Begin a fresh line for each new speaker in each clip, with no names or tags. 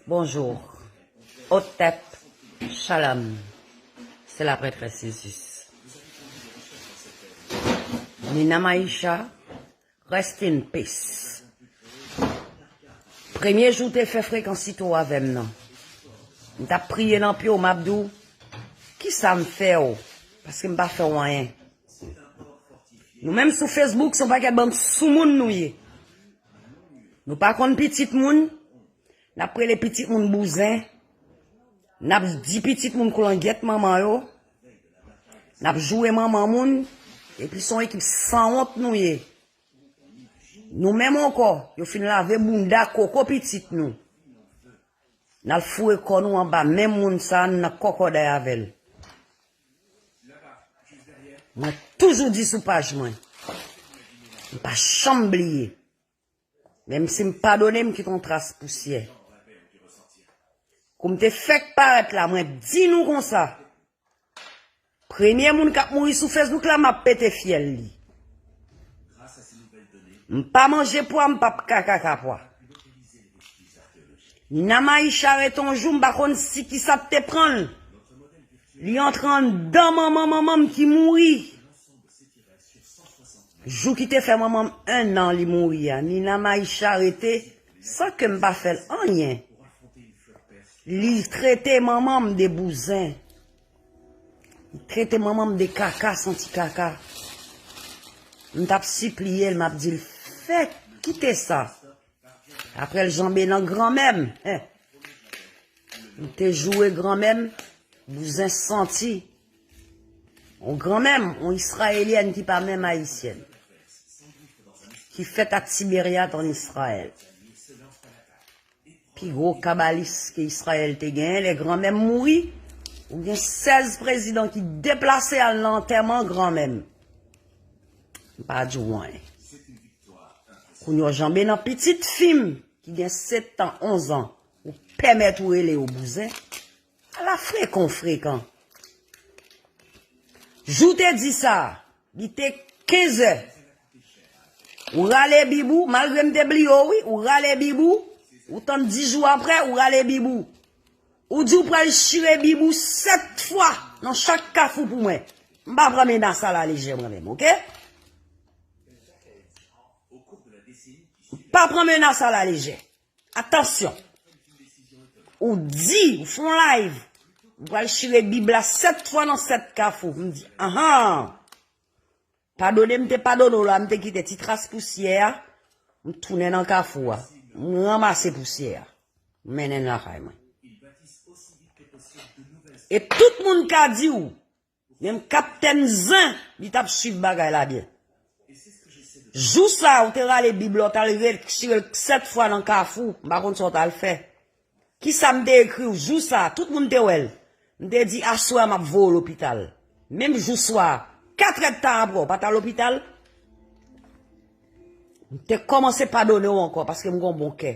Bonjour Otep Shalom se la prètrès Jesus Nina Maisha rest in peace premye jou te fè frekansite w avèm nan m tap priye nan pye w map di w kisa m fè w paske m pa fè w anyen nou menm sou Facebook son pakèt bann soumoun nou ye. Nou pa konn pitit moun, nap rele pitit moun bouzen, nap di pitit moun koulangyèt manman yo, nap joure manman moun, epi son ekip sanwont nou ye. Nou menm ankò, yo fin lave bounda koko pitit nou. Nal foure kò nou anba men moun sa, nan kòkòday avèl. Mwen toujou di sou paj mwen. M pa chanm bliye. Menm si m padone m kite yon tras pousyè. Kou m te fèk parèt la mwen di nou konsa. Premye moun kap mouri sou Facebook la map pete fyèl li. M pa manje pwa m pap ka kaka pwa. Nina Maisha rete yon jou m pa konn si ki sa te pran l. Li antre anndan manman manman m ki mouri jou ki te fè manman m 1 an li mouri a Nina Maïsha rete san ke m pa fè l anyen li trete manman m de bouzen li trete manman m de kaka santi kaka m t ap sipliye l m ap di l fè kite sa. Aprè l janbe nan granmè m. M te joure granmè m, bouzen santi. On granmè m, on Israelyèn ki pa menm Ayisyèn. Ki fèt ak Tiberiat an Israyèl. Pi gwo kabalis ke Israyèl te genyen, lè granmè m mouri, ou gen 16 prezidan ki deplase al nan antèman granmè m. M pa di w anyen. Kounye w janbe nan pitit fi m ki gen 7 tan 11 an ou pèmèt ou rele yo bouzen? Ala frekan w frekan. Jou w te di sa, li te 15 è. Ou rale bib ou, malgre m te bliye w wi, ou rale bib ou, ou tann 10 jou aprè, ou rale bib ou. Ou di w pral chire bib ou 7 fwa nan chak kafou pou mwen. M pa pran menas a la lejè mwen menm, ok? Pa pran menas a la lejè. Atansyon. Ou di, ou fon live. Ou pral chire bib la 7 fwa nan 7 kafou. M di, ahan. Padone m te padone ou la, m te kite ti tras pousyè a. M tounen nan kafou a. M ranmase pousyè a. M mennen lakay mwen. E tout moun ka di ou. Menm kaptèn zen li tap swiv bagay la byen. Jou sa ou te rale bib la ou tal retire l 7 fwa nan kafou m pa konn sa ou tal fè. Kisa m te ekri w jou sa tout moun te wè l. M te di aswè a map voye w lopital. Menm jou swa a 4 èd tan aprè ou pat al lopital. M te kòmanse padone w ankò paske m gen yon bon kè.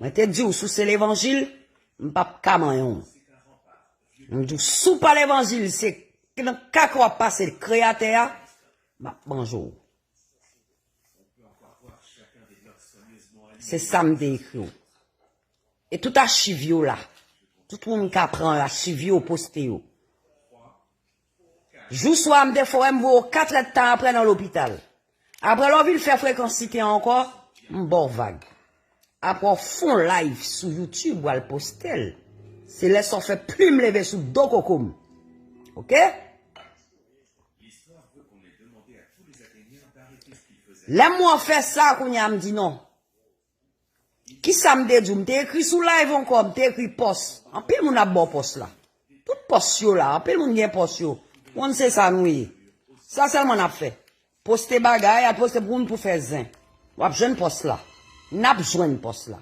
Mwen te di ou sou se levanjil, m pap ka manyon. M di ou sou pa levanjil, se nan kaka wap pase kreyatè a, m ap manje ou. Se sa m te ekri ou. E tout achiv yo la. Tout moun ka pran achiv yo, poste yo. Jou swa a m te fò wè m voye w katrèd tan aprè nan lopital. Aprè lè w vin fè frekansite an ankò, m ba w vag. Aprè w fon layv sou youtube w al poste l, se lè sa w fè plim leve sou do koko m. Ok? Lè m wè w fè sa, kounye a m di non. Kisa m te di w? M te ekri sou live ankò, m te ekri pòs. Anpil moun ap ba w pòs la. Tout pòs yo la, anpil moun gen pòs yo. Moun se sa nou ye. Sa sèlman n ap fè. Poste bagay, al poste pou moun pou fè zen. W ap jwenn pòs la. N ap jwenn pòs la.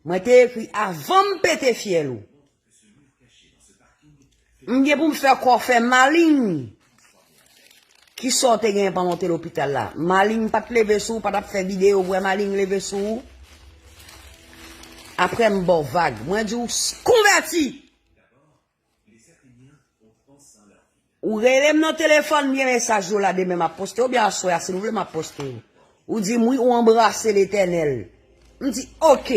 Mwen te ekri avan m pete fyèl ou. M gen pou m fè kò fè maling. Ki sa w te gen pandan w te lopital la? Maling pa t leve sou ou, pa t ap fè videyo pou wè maling leve sou ou? Apre m ba w vag. Mwen di w konvèti! Ou relem nan telefòn byen mesaj yo la demen map poste yo byen aswè a si nou vle map poste yo. Ou dim wi ou anbrase letènèl. M di ok.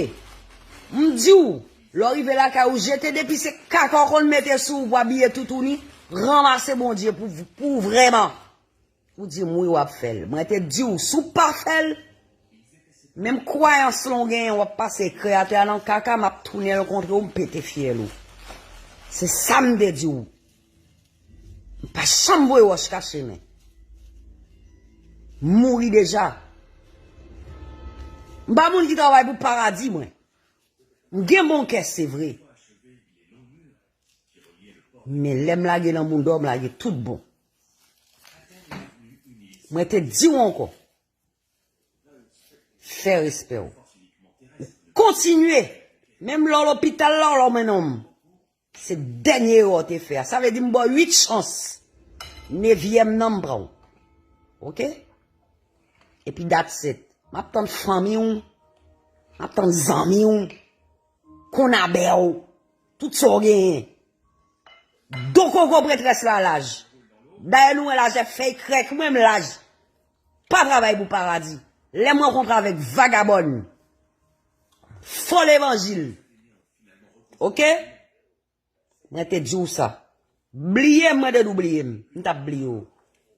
M diw lè w rive lakay ou jete depi se kaka w konn mete sou ou pou abiye toutouni, ranmase Bondye pou pou vrèman. Ou dim wi wap fel. Mwen te diw si w pa fel menm kwayans lan w genyen wap pase kreyatè a nan kaka map tounenl kontrew m pete fyèl ou se sam te diw m pa janm voye wòch kache men m mouri deja m pa moun ki travay pou paradi mwen m gen bon kè se vre men lèm lage nan moudon m lage tout bon Mwen te di ou ankò. Fè respè ou. Ou kontinye. Menm lò lopital la ou lò men nonm. Se dènye erò ou te fè a. Sa vle di m ba ou 8 chans. Nevyèm nan m pran ou. Ok? E pi dat set. M ap tann fanmi ou. M ap tann zanmi ou. Konabè ou. Tout sa w genyen. Do koko pretrès la laj. Dayè nou wè lajè fèy krèk mwen m laj. Pa travay pou paradi. Lè m rankontre avèk vagabòn. Fo levanjil. Ok. Mwen te di w sa. Bliye m mwen te di w bliye m. M tap bliye w.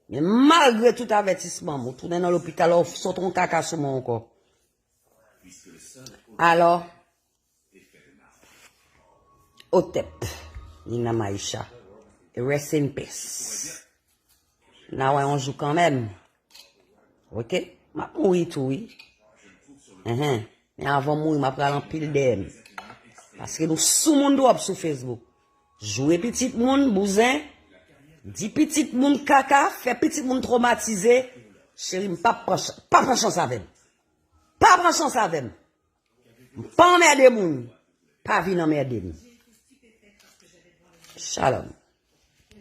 Men malgre tout avètisman m ou tounen nan lopital ou sot yon kaka sou mwen ankò. Alò. Otep ni nan maisha rest in peace na wè yon jou kanmèm ok map mouri tou wi enhen men avanm mouri map pral anpil deyèm paske nou sou moun trop sou facebook joure pitit moun bouzen di pitit moun kaka fè pitit moun tromatize cherim pa pran chans avèm pa pran chans avèm M pa anmède moun. Pa vin anmède m. Shalom.